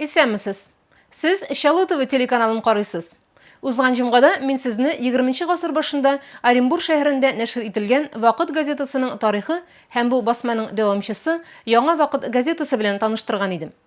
Исәнмесез. Сез Чаллы ТВ телеканалын карыйсыз. Узган җомгада мин сезне 20 гасыр башында Оренбур шәһәрендә нәшер ителгән Вакыт газетасының тарихы һәм бу басманың дәвамчысы Яңа вакыт газетасы белән таныштырган идем.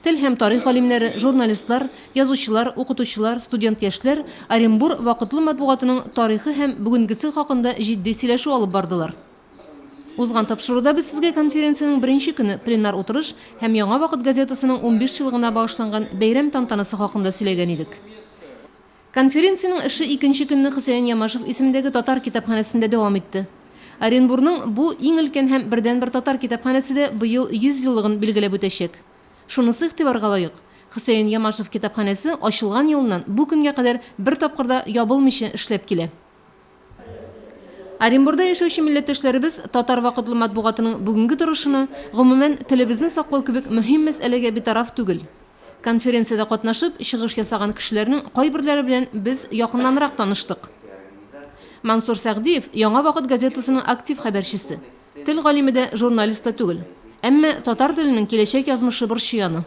Тел һәм тарих галимнәре, журналистлар, язучылар, укытучылар, студент-яшьләр Оренбур вакытлы матбугатының тарихы һәм бүгенгесе хакында җитди сөйләшү алып бардылар. Узган тапшыруда без сезгә конференциянең беренче көне, пленар утырыш һәм Яңа вакыт газетасының унбишьелыгына багышланган бәйрәм тантанасы хакында сөйләгән идек. Конференциянең эше икенче көнне Хөсәен Ямашев исемендәге татар китапханәсендә дәвам итте. Оренбурның бу иң өлкән һәм бердәнбер татар китапханәсе дә быел 100 еллыгын билгеләп үтәчәк. Шунысы игътибарга лаек, Хөсәен Ямашев китапханәсе ачылган елыннан бу көнгә кадәр бер тапкыр да ябылмыйча эшләп килә. Оренбурда яшәүче милләттәшләребез Татар вакытлы матбугатының бүгенге торышына, гомумән, телебезне саклау кебек мөһим мәсьәләгә битараф түгел. Конференциядә катнашып, чыгыш ясаган кешеләрнең кайберләре белән без якыннанрак таныштык. Мансур Сәгъдиев, Яңа вакыт газетасының актив хәбәрчесе. Тел галиме дә, журналист та түгел. Әмма татар теленең киләчәк язмышы борчый аны.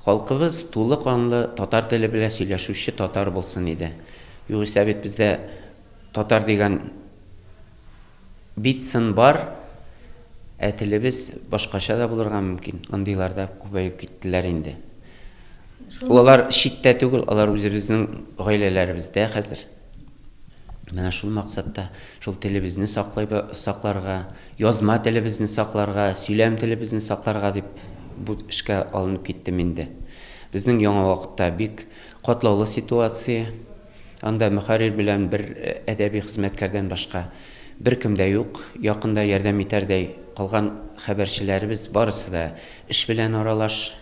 Халкыбыз тулы канлы татар теле белән сөйләшүче татар булсын иде. Югыйсә бит бездә татар дигән бит сын бар, ә телебез башкача да булырга мөмкин. Андыйлар да күбәеп киттеләр инде. Алар читтә түгел, алар үзебезнең гаиләләребездә хәзер. Менә шул максатта, шул телебезне саклыйбы, сакларга, язма телебезне сакларга, сөйләм телебезне сакларга дип бу эшкә алынып киттем инде. Безнең яңа вакытта бик катлаулы ситуация. Анда мөхәррир белән бер э, әдәби хезмәткәрдән башка беркем дә юк. Якында ярдәм итәрдәй калган хәбәрчеләребез барысы да эш белән аралаш.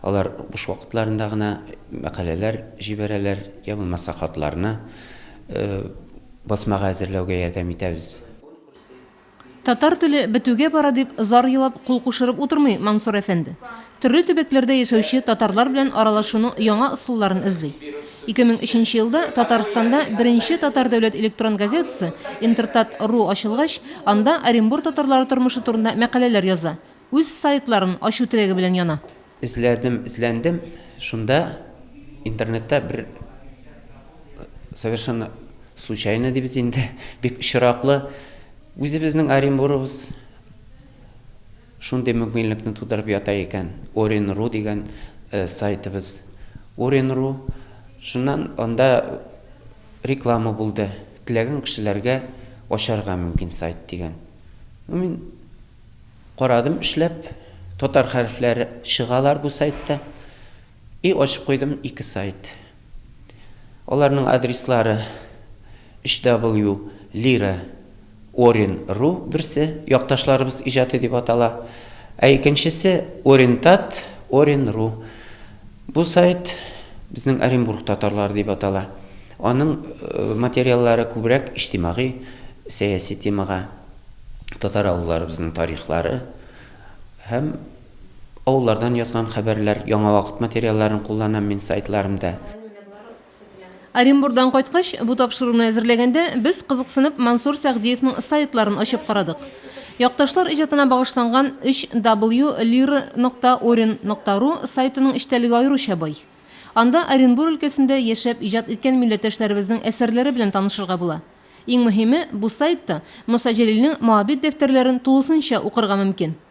Алар буш вакытларында гына мәкаләләр җибәрәләр, йә булмаса хатларны басмага әзерләүгә ярдәм итәбез. Татар теле бетүгә бара дип зар елап кул кушырып утырмый Мансур әфәнде. Төрле төбәкләрдә яшәүче татарлар белән аралашуның яңа ысулларын эзли. 2003 нче елда Татарстанда беренче татар дәүләт электрон газетасы Интертат. Ру ачылгач, анда Оренбур татарлары тормышы турында мәкаләләр яза. Үз сайтларын ачу теләге белән яна. Эзләдем, эзләндем, шунда интернетта бер совершенно случайно дибез инде, бик очраклы, үзебезнең Оренбурыбыз шундый мөмкинлекне тудырып ята икән, Орен.ру дигән сайтыбыз, Орен.ру, шуннан анда реклама булды, теләгән кешеләргә ачарга мөмкин сайт дигән. Ну, мин. Карадым эшләп, татар хәрефләре чыгалар бу сайтта. И ачып куйдым ике сайт. Аларның адреслары 3W Lira Orin Ru берсе, якташларыбыз иҗаты дип атала, ә икенчесе Orientat Orin Ru Бу сайт Безнең Оренбург татарлары дип атала. Аның материаллары күбрәк иҗтимагый, сәяси темага, татар авылларыбызның тарихлары һәм авыллардан язган хәбәрләр, яңа вакыт материалларын кулланам мин сайтларымда. Оренбурдан кайткач, бу тапшыруны әзерләгәндә, без, кызыксынып, Мансур Сәгъдиевның сайтларын ачып карадык. Якташлар иҗатына багышланган 3W Lira нокта Орен нокта Ру сайтының эчтәлеге аеруча бай. Анда Оренбур өлкәсендә яшәп иҗат иткән милләттәшләребезнең әсәрләре белән танышырга була. Иң мөһиме, бу сайтта Муса Җәлилнең моабит дәфтәрләрен тулысынча укырга мөмкин.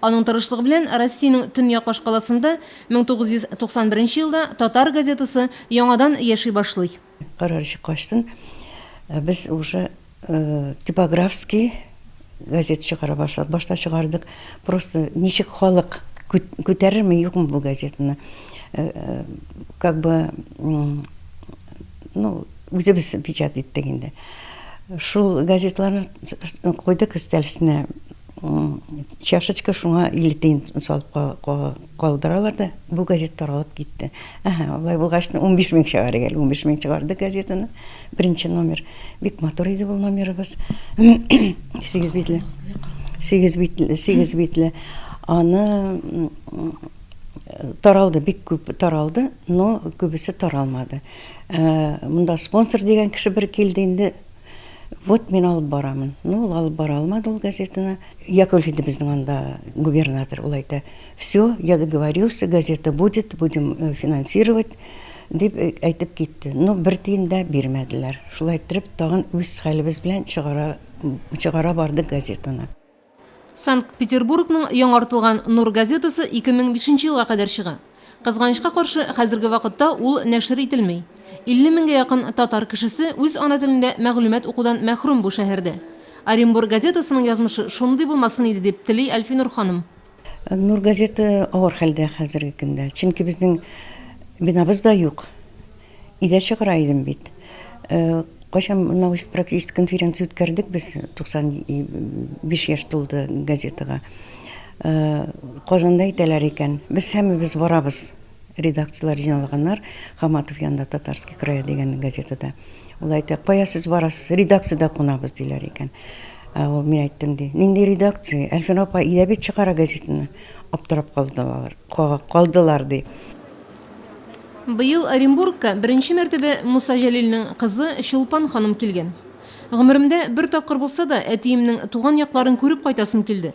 Аның тырышлыгы белән Россиянең төньяк башкаласында 1991 елда Татар газетасы яңадан яши башлый. Карар чыккачтын, без уже типографский газет чыгара башладык. Башта чыгардык, просто ничек халык күтәрерме, юкмы бу газетаны, как бы, ну, үзебез печатать иттек инде. Шул газетларны куйдык өстәл өстенә. Чашечка шуңа илле тиен салып калдыралар да, бу газет таралып китте. Әһә, алай булгач, унбиш мең чыгарыйк әле. Унбиш мең чыгарды газетаны. Беренче номер. Бик матур иде ул номерыбыз. Сигез битле. Сигез битле, сигез битле. Аны таралды, бик күп таралды, но күбесе таралмады. Монда спонсор дигән кеше бер килде инде, Вот мин алып барамын. Ну, ул алып бара алмады ул газетаны. Яковлев иде безнең анда губернатор, ул әйтә, все, я договорился, газета будет, будем э, финансировать, дип э, әйтеп китте. Ну, бер тиен дә бирмәделәр. Шулай иттереп, тагын үз хәлебез белән чыгара, чыгара бардык газетаны. Санкт-Петербургның яңартылган Нур газетасы 2005 елга кадәр чыга. Кызганычка каршы, хәзерге вакытта ул нәшер ителми. 50 меңгә якын татар кешесе үз ана телендә мәгълүмат укудан мәхрүм бу шәһәрдә. Оренбур газетасының язмышы шундый булмасын иде, дип тели Әлфинур ханым. Нур газеты авыр хәлдә хәзерге көндә. Чөнки безнең бинабыз да юк. Идә чыгара идем бит. Э, кайчан научный практический конференция үткәрдек без 95 яшь тулды газетага. Э, Казанда әйтәләр икән. Без һәммәбез барабыз. Редакцияләр җыйналганнар, Хаматов янында Татарский край дигән газетада. Ул әйтә, кая сез барасыз, редакциядә кунабыз, диләр икән. Ә ул мин әйттем, ди, нинди редакция, Әлфин апа өйдә бит чыгара газетаны. Аптырап калдылар, калдылар, ди. Быел Оренбургка беренче мәртәбә Муса Җәлилнең кызы Чулпан ханым килгән. Гомеремдә бер тапкыр булса да, әтиемнең туган якларын күреп кайтасым килде.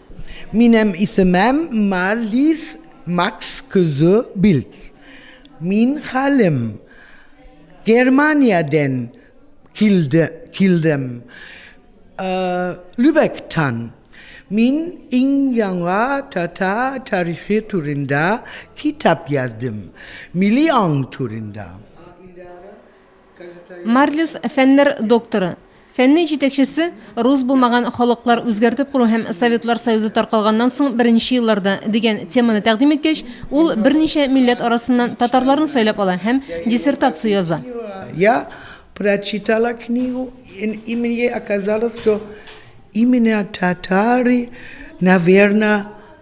Минем исемем Марлис Макс кызы Билц. Мин хәлим Германиядән килдем. Любектан. Мин иң яңа татар тарихы турында китап яздым. Милли аң турында. Марлис, фәннәр докторы, фәннең җитәкчесе, рус булмаган халыклар үзгәртеп кору һәм Советлар Союзы таркалганнан соң беренче елларда дигән теманы тәкъдим иткәч, ул берничә милләт арасыннан татарларны сайлап ала һәм диссертация яза.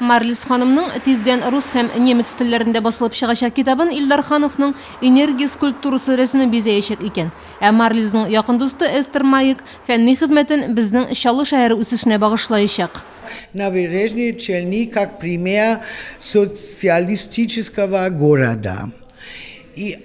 Марлис ханымның тиздән рус һәм немец телләрендә басылып чыгачак китабын Илдар Хановның Энергия скульптурасы рәсеме бизәячәк икән. Ә Марлизның якын дусты Эстер Маек фәнни хезмәтен безнең Чаллы шәһәре үсешенә багышлаячак. На Бережной Челни как пример социалистического города и.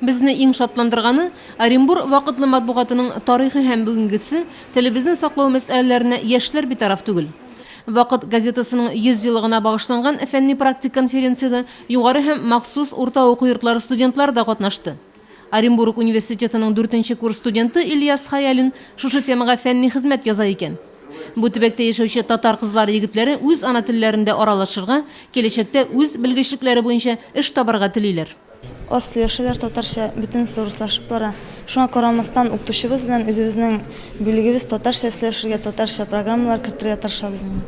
Безне иң шатландырганы, Оренбур вакытлы матбугатының тарихы һәм бүгенгесе, телебезне саклау мәсьәләләренә яшьләр битараф түгел. Вакыт газетасының 100 еллыгына багышланган фәнни-практик конференциядә югары һәм махсус урта уку йортлары студентлары да катнашты. Оренбург университетының дүртенче курс студенты Ильяс Хәялин шушы темага фәнни хезмәт яза икән. Бу төбәктә яшәүче татар кызлары-егетләре үз ана телләрендә аралашырга, киләчәктә үз белгечлекләре буенча эш табарга телиләр. Аз сөйләшәләр татарча, бөтенесе урыслашып бара. Шуңа карамастан, укытучыбыз белән үзебезнең бүлегебез татарча сөйләшергә, татарча программалар кертергә тырышабыз инде.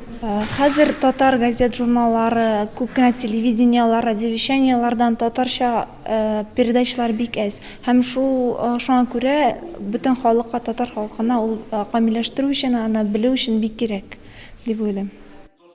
Хәзер татар газет-журналлары, күп кенә телевидениеләр, радиовещаниеләрдән татарча передачалар бик әз. Һәм шул, шуңа күрә бөтен халыкка, татар халкына ул камилләштерү өчен, аны белү өчен бик кирәк, дип уйлыйм.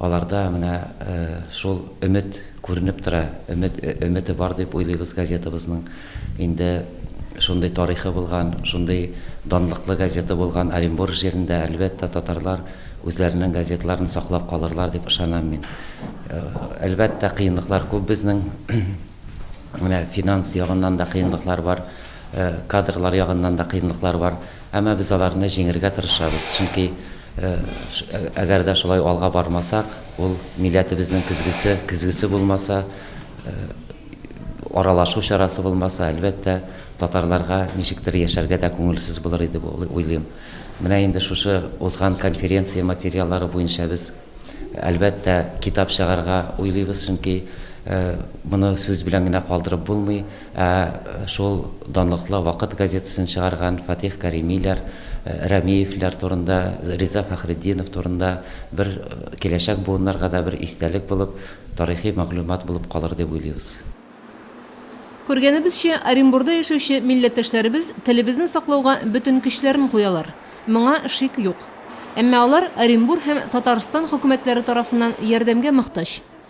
Аларда менә шул өмет күренеп тора, өмет өмете бар дип уйлыйбыз газетабызның. Инде шундый тарихы булган, шундый данлыклы газета булган Оренбург җирендә, әлбәттә, татарлар үзләренең газеталарын саклап калырлар дип ышанам мин. Әлбәттә, кыенлыклар күп безнең. Менә финанс ягыннан да кыенлыклар бар, кадрлар ягыннан да кыенлыклар бар. Әмма без аларны җиңергә тырышабыз, чөнки Әгәр дә шулай алга бармасак, ул милләтебезнең көзгесе, көзгесе булмаса, аралашу чарасы булмаса, әлбәттә, татарларга ничектер яшәргә дә күңелсез булыр иде дип уйлыйм. Менә инде шушы узган конференция материаллары буенча без, әлбәттә, китап чыгарга уйлыйбыз, чөнки моны сүз белән генә калдырып булмый. Ә шул данлыклы Вакыт газетасын чыгарган Фатих Кәримиләр, Рәмиевләр турында, Риза Фәхретдинов турында бер киләчәк буыннарга да бер истәлек булып, тарихи мәгълүмат булып калыр дип уйлыйбыз. Күргәнебезчә, Оренбурда яшәүче милләттәшләребез телебезне саклауга бөтен көчләрен куялар. Моңа шик юк. Әмма алар Оренбур һәм Татарстан хөкүмәтләре тарафыннан ярдәмгә мохтаҗ.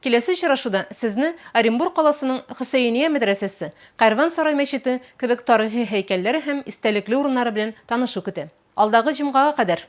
Киләсе очрашуда сезне Оренбур каласының Хөсәения мәдрәсәсе, Кәрван сарай мәчете кебек тарихи һәйкәлләр һәм истәлекле урыннары белән танышу көтә. Алдагы җомгага кадәр!